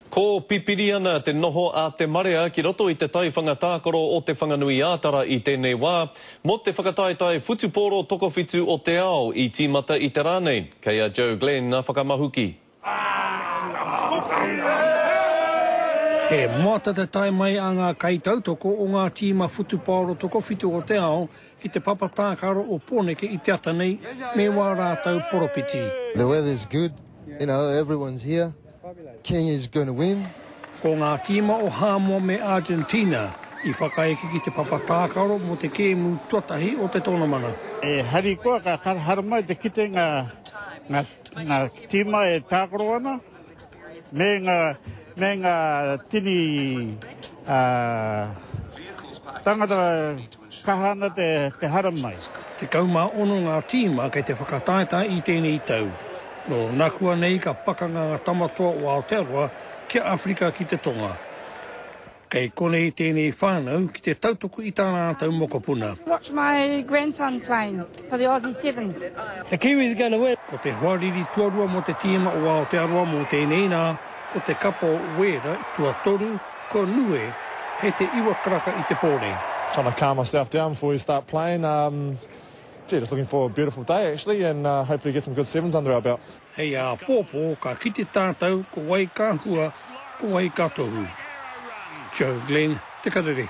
Kōpipiri ana te noho a te marea ki roto i te taiwhanga tākaro o Te Whanganui-ā-Tara i tēnei wā, mō te whakataetae whutupōro tokowhitu o te ao i tīmata i te rā nei. Kei a Joe Glenn ngā whakamahuki. He moata te tae mai a ngā kaitautoko o ngā tīma whutupōro tokowhitu o te ao ki te papa tākaro o Pōneke i te ata nei, me wā rātou poropiti. The weather's good, you know, everyone's here. King is going to win. Ko ngā tīma o Hāmoa me Argentina i whakaeke ki te papa tākaro mō te kēmu tuatahi o te tonomana. E harikoa ka haramai te kite ngā ngā tīma e tākaro ana me ngā me ngā tini tangata Kaha ana te haramai. Tekau mā ono ngā tīma kei te whakataetae i tēnei tau. Nō nakua nei ka pakanga ngā tamatoa o Aotearoa ki a Awherika ki te Tonga. Kei konei tēnei whānau ki te tautoko i tā rātou mokopuna. Watch my grandson playing for the Aussie Sevens. The Kiwis are gonna win. Ko te hoariri tuarua mō te tīma o Aotearoa mō tēnei nā, ko te kapa o Wēra, tuatoru, Ko Nue, he te iwa karaka i te pō nei. Trying to calm myself down before we start playing um gee just looking for a beautiful day actually and uh hopefully get some good sevens under our belt. Hei āpōpō ka kite tātou ko wai ka hua ko wai ka tohu. Joe Glenn, Te Karere.